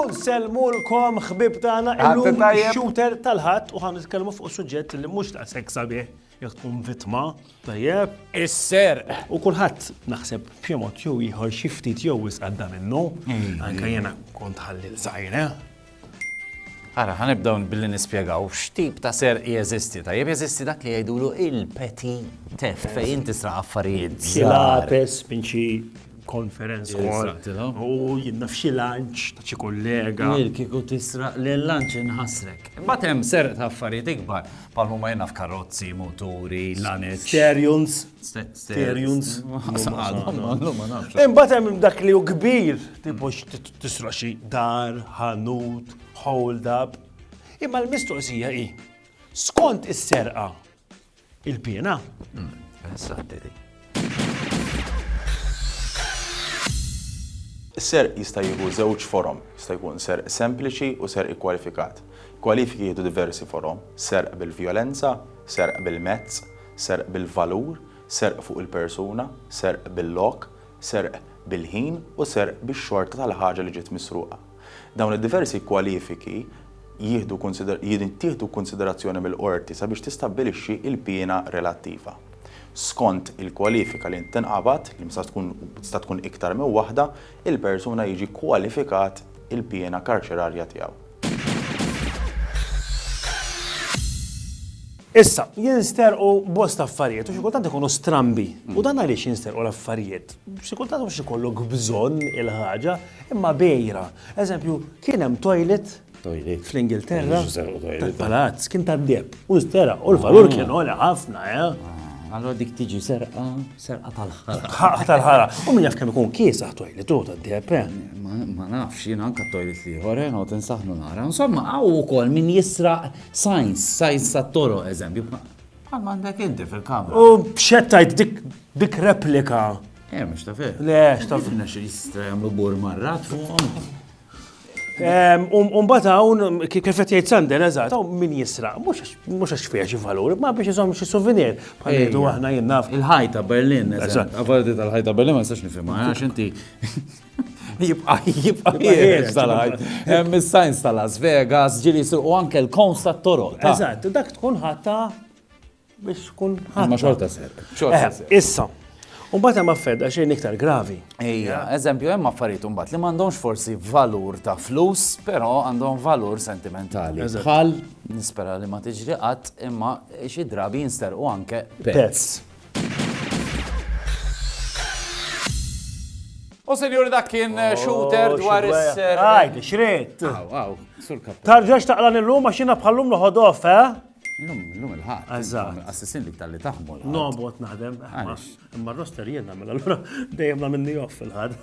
Unselmulkom ħbib tagħna illum shooter tal-ħadd u ħan nitkellmu fuq suġġett li mhux ta' seksa bih. Jekk tkun vittma, tajjeb. Is-serq. U kulħadd naħseb b'xi mod jew ieħor xi ftit jew wisq għadda minnu. Anke jiena kont ħalli l-żgħir, eh? Ara, ħanibdaw billi nispjegaw x'tip ta' serq jeżisti. Tajjeb jeżisti dak li jgħidulu il-peti teft fejn inti sra affarijiet. Xilates minn xi konferenz kol. U jinna f'xi lanċ ta' xi kollega. Kieku tisraq l-lanċ inħasrek. Batem serq ta' affarijiet ikbar. Bħal huma jenaf karozzi, moturi, lanez. Sterjons. Sterjons. Imbagħad hemm dak li hu kbir, tipo tisra xi dar, ħanut, hold up. Imma l-mistoqsija hi, skont is-serqa il-piena? Hmm, Is-serq jista' jieħu żewġ forom, jista' jkun serq sempliċi u serq ikkwalifikat. Kwalifiki jieħdu diversi forom, serq bil-vjolenza, serq bil-mezz, serq bil-valur, serq fuq il-persuna, serq bil-lok, serq bil-ħin u serq bix-xorta tal-ħaġa li ġiet misruqa. Dawn id-diversi kwalifiki jittieħdu kunsiderazzjoni mill-qorti sabiex tistabbilixxi l-piena relattiva. Skont il-kwalifika li tinqabad, li tista' tkun iktar minn waħda, il-persuna jiġi kkwalifikat il-piena karċerarja tiegħu. Issa, jinsterqu bosta affarijiet u xi kultant ikunu strambi. U dan għaliex jinsterqu l-affarijiet? Xi kultant mhux ikollok bżonn il-ħaġa, imma bejra. Eżempju, kien hemm toilet fl-Ingilterra tal-palazz, kien tad-deb, u stera, u l-valur kien għoli ħafna, eh? Allora dik tiġi serqa, serqa tal-ħara. Ħara tal-ħara. U min jaf kemm ikun kiesaħ toilet u tad-deb, eh? Ma nafx, jien anka toilet li ħore, no, tinsaħnu nara. Insomma, għaw ukoll min jisraq science, science tat-toro, eżempju. Bħal m'għandek inti fil-kamra. U b'xettajt dik dik replika. Eh, mhux ta' fih. Le, x'taf. Tifna xi jistra jagħmlu bur marrat fuqhom. Umbat hawn kif qed jgħid Sander eżatt, hawn min jisraq, mhux għax fiha xi valur, ma biex iżomm xi souvenir bħal ngħidu aħna jien naf. Il-ħajta Berlin, eżatt. Avardi tal-ħajta Berlin ma nistax nifhimha, għax inti Jibqa' jibqa' jieħed tal-ħajt. Hemm is-sajns ta' Las Vegas, ġieli u anke l-kowns tat-toroq. Eżatt, dak tkun ħatta biex tkun ħatta. Ma xorta ser. Xorta ser. Issa, U bat hemm affedda xejn iktar gravi. Ejja, eżempju hemm affarijiet imbagħad li m'għandhomx forsi valur ta' flus, però għandhom valur sentimentali. Bħal nispera li ma tiġri qatt imma xi drabi jinsterqu anke pets. U senjur dak kien eh, oh, shooter dwar is-ser. Għajdi, xrit. Għaw, għaw, sur kap. Tarġax taqla nil-lum għax jina bħallum noħodof, eh? Lum, lum il-ħat. Eżat. Assissin li tal-li taħmu. No, bot naħdem. Imma roster jena, mela l-għura dejjem la minni off il-ħad.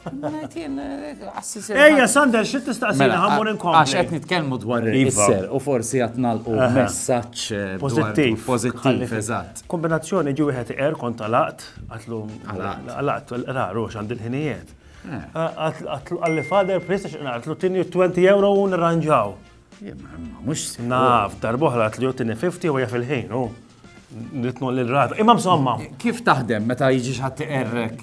Ejja, Sander, xit tistaqsina mela, ħammur inkom. Għax għet nitkelmu dwar iva. il-ser u forsi għatnal u messaċ eh, pozittiv. Pozittiv, eżat. Kombinazzjoni ġi wieħed iqer kont għalaqt, għatlu. Għalaqt. Għalaqt, raru, xand il-ħinijiet. Għalli fader, prista xinna, għatlu tini 20 euro u nirranġaw. Mux. Naf, darboħra għatlu tini 50 u jaf il-ħin, u. Nitnu l-rata. Imma msomma. Kif taħdem meta jiġi xħat iqerrek?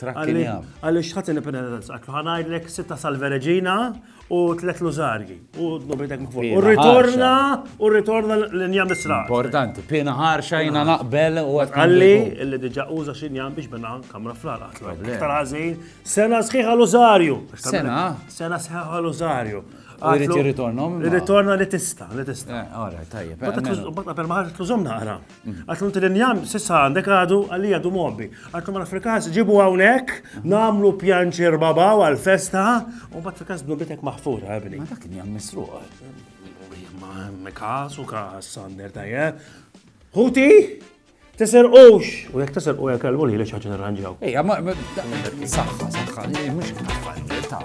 Għalix ħat il-penitenza, għaklu ħanajdlek sitta sal-verġina u tlet luzarji. U d-nubritek mkfor. U ritorna, u ritorna l-inja misra. Importanti, pina ħarxa jina naqbel u għat. Għalli, illi diġa uża xinjan biex bina kamra fl-għala. Ktar għazin, sena sħiħa l-użarju. Sena? Sena sħiħa l-użarju. Għalli, ritorna. Ritorna li tista, li tista. Għara, eh, tajjeb. Bata per maħarġ t-luzom naqra. Għax l l-injam sissa għandek għadu għalli għadu mobbi. Għax ma fil-kas ġibu għawnek, namlu pjanċer babaw għal-festa, u bat fil-kas dnubitek maħfura, għabni. Ma dak injam misruq. Ma kas u kas sander tajja. Huti, tisir ux. U jek tisir u jek għalbu li li xaċin ranġaw. Ej, ma, saħħa, saħħa, mux kif ta'